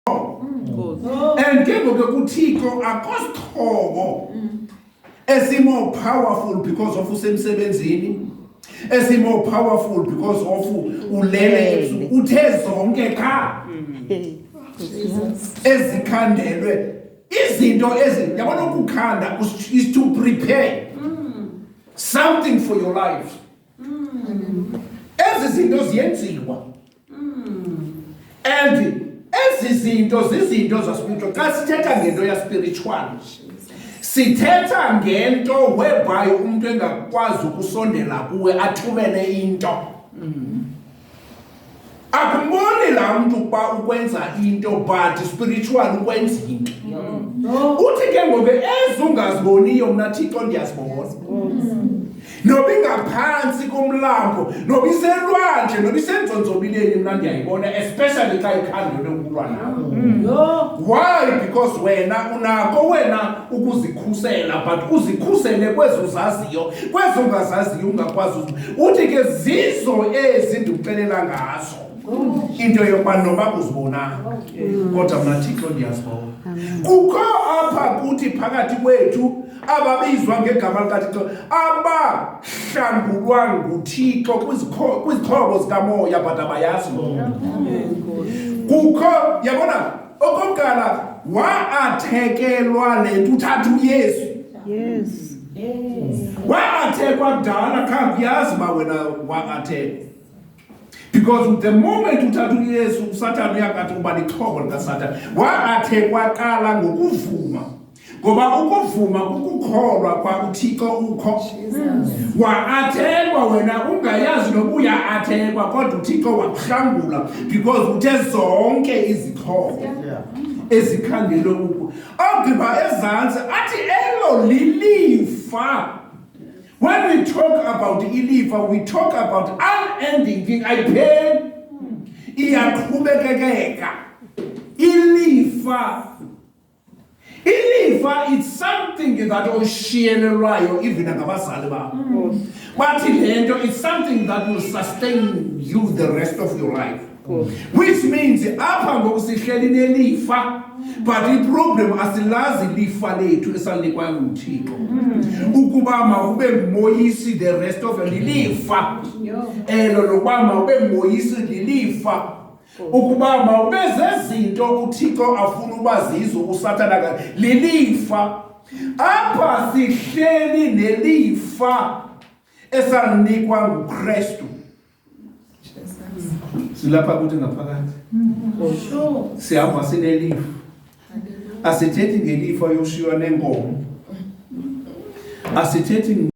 mm. and ke ngoke kuthixo akosithobo mm. esimore powerful because of usemsebenzini esimore powerful because of ulele uthe zonke qha mm. ezikhandelwe izinto ezi yabona ukukhanda is to prepare something for your life ezi zinto ziyenziwa and ezi zinto zizinto zaspiritual xa sithetha ngento yaspiritual sithetha ngento whereby umntu engakwazi ukusondela kuwe athumele into akumboni laa mntu ukuba ukwenza into but spiritual ukwenza into uthi ke ngoku ezungaziboniyo mna thixo ndiyazibona nobingaphantsi komlambo nobiselwandle nobisenzonzobileni mna ndiyayibona especially xa ikhandele ukulwa nam mm. why because wena unako wena ukuzikhusela but uzikhusele kwezi uzaziyo kwezi ungazaziyo ungakwazi uthi ke zizo ezi ndikuxelela ngazo into yokuba noba uzibonanga kodwa mna thixo ndiyazibona kukho apha kuthi phakathi kwethu ababizwa ngegama likaThixo abahlangulwa nguThixo kwizixhobo zikamoya but abayazi loo kukho yabona okokuqala waathekelwa le nto uthatha uyesu waathekwa kudala khange uyazi uba wena waathekwa because the moment uthatha uyesu usathane uyakathi uba lixhobo likasatane waathekwa qala ngokuvuma ngoba ukuvuma kukukholwa kwa uthixo ukho waathekwa wena ungayazi nobuya athekwa kodwa uthixo wakuhlangula because uthe zonke izixhobo ezikhangele uku ogqiba ezantsi athi elo lilifa when we talk about ilifa we talk about unending thing ayipheli iyaqhubekekeka ilifa ilifa it's something that oshiyelelwayo even ngabazali bakho mm. bathi le nto it's something that will sustain you the rest of your life which means apha ngoku sihleli nelifa but iproblem asilazi lifa lethu esalinikwayo nguthixo mm. ukuba mawube ngumoyisi the rest of lilifa elo lokuba mawube ngumoyisi lilifa ukuba mawube zezinto uthixo afuna uba zizo usathana ka lilifa apha sihleli nelifa esalinikwa ngukrestu silapha kuthi ngaphakathi sihamba sinelifa asithethi ngelifa yoshiywa nenkomo asithethi